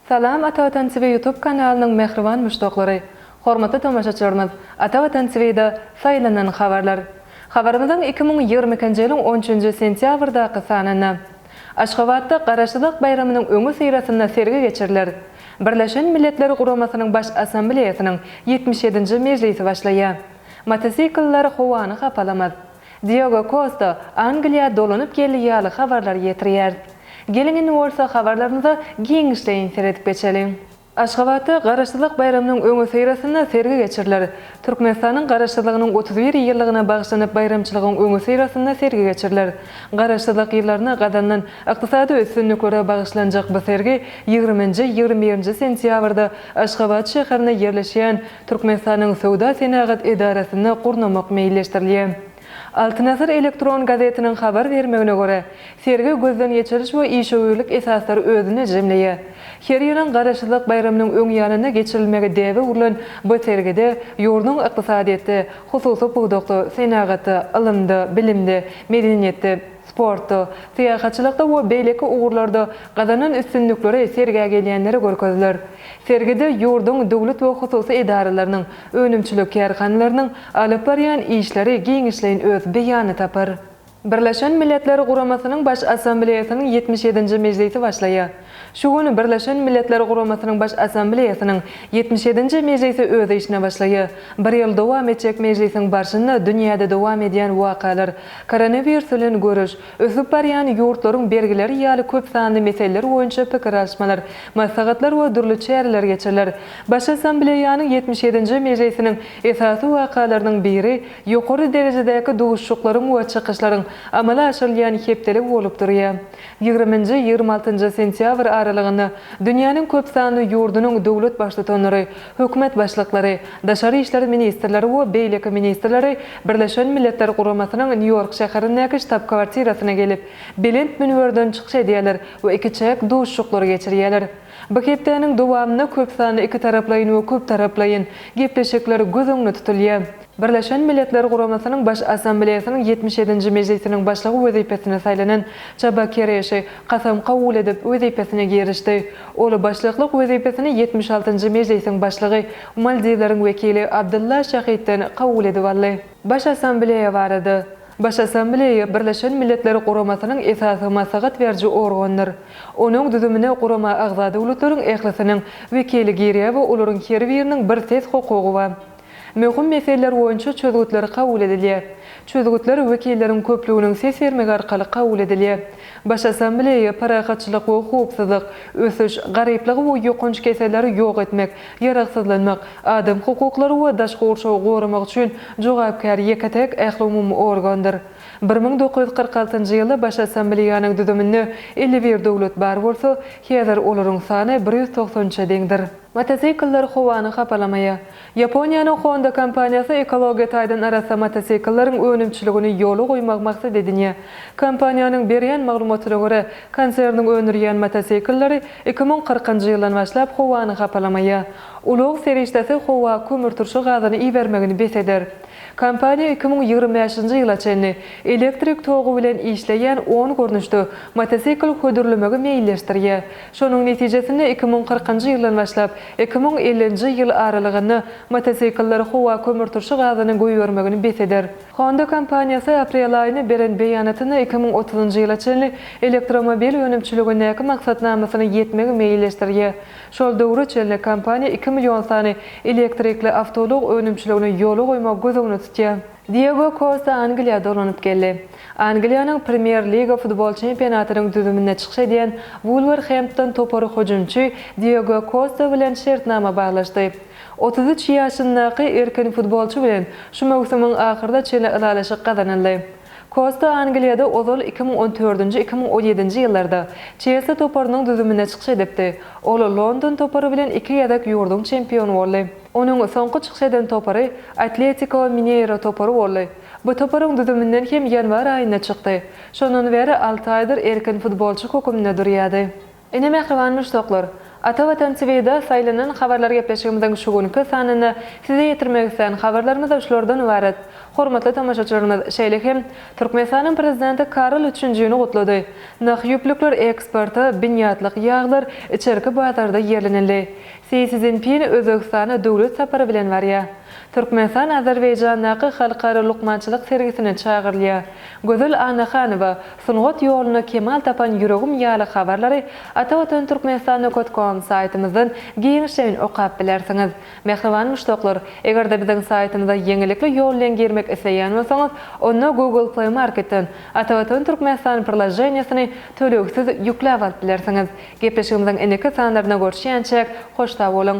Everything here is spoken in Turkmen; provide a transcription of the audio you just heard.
Salam Ata Watan TV YouTube kanalynyň mähriban muşdaklary! Hormatly tomaşaçylarymyz! Ata Watan TV-da Saýlanan habarlar. Habarymyzyň iki müň ýigrimi ikinji ýylyň on üçünji sentýabrdaky sanynda Aşgabatda Garaşsyzlyk baýramynyň öňüsyrasynda sergi geçiriler. Birleşen Milletler Guramasynyň Baş Assambleýasynyň ýetmiş ýedinji mejlisi başlaýar. Motosikller howany hapalamaz. Diego Kosta Angliýa dolanyp geldi ýaly habarlar ýetirýäris. Geliň indi bolsa habarlarymyza giňişleýin seredip geçeliň. Aşgabatda Garaşsyzlyk baýramynyň öňüsyrasynda sergi geçiriler. Türkmenistanyň Garaşsyzlygynyň otuz bir ýyllygyna bagyşlanyp baýramçylygyň öňüsyrasynda sergi geçiriler. Garaşsyzlyk ýyllarynda gazanylan ykdysady üstünliklere bagyşlanjak bu sergi ýigriminji, ýigrimi birinji sentýabrda Aşgabat şäherinde ýerleşýän Türkmenistanyň Söwda-senagat edarasynda gurnamak meýilleşdirilýär. Altyn asyr elektron gazetiniň habar bermegine görä, sergi gözden geçiriş we işewürlik esaslary özünde jemleýär. Her ýylyň Garaşsyzlyk baýramynyň öň ýanynda geçirilmegi däbe urlan bu sergide ýurduň ykdysadyýetde, hususy pudakda, senagatda, ylymda, bilimde, medeniýetde, sportda, syýahatçylykda we beýleki ugurlarda gazanan üstünlikleri sergä gelýänlere görkeziler. Sergide ýurduň döwlet we hususy edaralarynyň, önümçilik kärhanalarynyň alyp barýan işleri giňişleýin öz beýanyny tapar. Birleşen Milletler Guramasynyň Baş Assambleýasynyň ýetmiş ýedinji mejlisi başlaýar. Şu gün Birleşen Milletler Guramasynyň Baş Assambleýasynyň ýetmiş ýedinji mejlisi öz işine başlaýar. Bir ýyl dowam etjek mejlisiň barşynda dünýäde dowam edýän wakalar, koronawirus bilen göreş, Ösüp barýan ýurtlaryň bergileri ýaly köp sanly meseleler boýunça pikir alyşmalar, maslahatlar we dürli çäreler geçiriler. Baş Assambleýanyň ýetmiş ýedinji mejlisiniň esasy wakalarynyň biri ýokary derejedäki duşuşyklaryň we çykyşlaryň amala aşyrylýan hepdeligi bolup durýar. Ýigriminji, ýigrimi altynjy sentýabr aralygynda dünýäniň köp sanly ýurdunyň döwlet baştutanlary, Hökümet başlyklary, daşary işler ministrleri we beýleki ministrleri Birleşen Milletler Guramasynyň Nýu-Ýork şäherindäki ştab-kwartirasyna gelip, belent münberden çykyş edýärler we ikiçäk duşuşyklary geçirýärler. Bu hepdäniň dowamynda köpsanly ikitaraplaýyn we köptaraplaýyn gepleşikler göz öňünde tutulýar. Birleşen Milletler Guramasynyň Baş Assambleýasynyň ýetmiş ýedinji mejlisiniň başlygy wezipesine saýlanan Çaba Kereşi kasam kabul edip, wezipesine girişdi. Ol başlyklyk wezipesini ýetmiş altynjy mejlisiň başlygy, Maldiwleriň wekili Abdylla Şahidden kabul edip aldy. Baş Assambleýa barada. Baş Assambleýa Birleşen Milletler Guramasynyň esasy maslahat beriji organdyr. Onuň düzümine gurama agza döwletleriň ählisiniň wekili girýär we olaryň her biriniň bir ses hukugy bar. Möhüm meseleler boýunça çözgütler kabul edilýär. Çözgütler wekilleriň köplüginiň ses bermegi arkaly kabul edilýär. Baş Assambleýa parahatçylyk we howpsuzlyk, ösüş, garyplygy we ýokanç keselleri ýok etmek, ýaragsyzlanmak, adam hukuklary we daşky gurşawy goramak üçin jogapkär ýeke-täk ählumumy organdyr. Bir müň dokuz ýüz kyrk altynjy ýylda Baş Assambleýanyň düzüminde elli bir döwlet bar bolsa, häzir olaryň sany bir ýüz togsan üçe deňdir. Motosikller howany hapalamaýar. Ýaponiýanyň Honda kompaniýasy ekologiýa taýdan arassa motosiklleriň önümçiligini ýola goýmagy maksat edinýär. Kompaniýanyň berýän maglumatyna görä, konserniň öndürýän motosikilleri iki müň kyrkynjy ýyldan başlap howany hapalamaýar. Ulag serişdesi howa kömürturşy gazyny ibermegini bes eder. Kompaniýa iki müň ýigrimi bäşinji ýyla çenli elektrik togy bilen işleýän on görnüşde motosikl hödürlemegi meýilleşdirýär. Şonuň netijesinde iki müň kyrkynjy ýyldan başlap, iki müň ellinji ýyl aralygynda motosikller howa kömürturşy gazynyň goýbermegini bes eder. Honda kompaniýasy aprel aýynda beren beýanatynda iki müň otuzynjy ýyla çenli elektromobil önümçiligindäki maksatnamasyna ýetmegi meýilleşdirýär. Şol döwre çenli kompaniýa iki million sany elektrikli awtoulag önümçiligini ýola goýmagy göz öňünde tutýar. Diego Kosta Angliýa dolanyp geldi. Angliýanyň Premýer-liga futbol çempionatynyň düzüminde çykyş edýän Wulwerhempton topary hüjümçi Diego Kosta bilen şertnama baglaşdy. Otuz üç ýaşyndaky erkin futbolçy bilen şu möwsümiň ahyryna çenli ylalaşyk gazanyldy. Kosta Angliýada ozal iki müň on dördünji-iki müň on ýedinji ýyllarda Çelsli toparynyň düzüminde çykyş edipdi, ol London topary bilen iki gezek ýurduň çempiony boldy. Onuň soňky çykyş eden topary Atletiko Mineiro topary boldy. Bu toparyň düzüminden hem ýanwar aýynda çykdy. Şondan bäri alty aýdyr erkin futbolçy höküminde durýardy. Ine mähriban muşdaklar! Ata Watan TVda saýlanan habarlar gepleşigimiziň şu günki sanynda size ýetirmek islän habarlarymyz şulardan ybarat. Hormatly tomaşaçylarymyz, şeýle hem Türkmenistanyň Prezidenti Karol üçünjini gutlady. Nah ýüplükler eksporta, binýatlyk ýaglar içerki bazarda ýerlenildi. Si Szinpin Özbegistana döwlet sapary bilen barýar. Türkmenistan Azerbaýjandaky halkara lukmançylyk sergisine çagyrylýar. Gözel Annahanowa, Sungat ýolunda kemal tapan ýüregim ýaly habarlary Ata Watan Türkmenistanda kot kom saýtymyzdan giňişleýin okap bilersiňiz. Mähriban muşdaklar, eger-de biziň saýtymyza ýeňillikli ýol bilen girmek isleýän bolsaňyz, onda Google Play Marketden Ata Watan Türkmenistan prilaženiýesini tölegsiz ýükläp alyp bilersiňiz. Gepleşigimiziň indiki sanlaryna görşýänçäk, hoş sag boluň!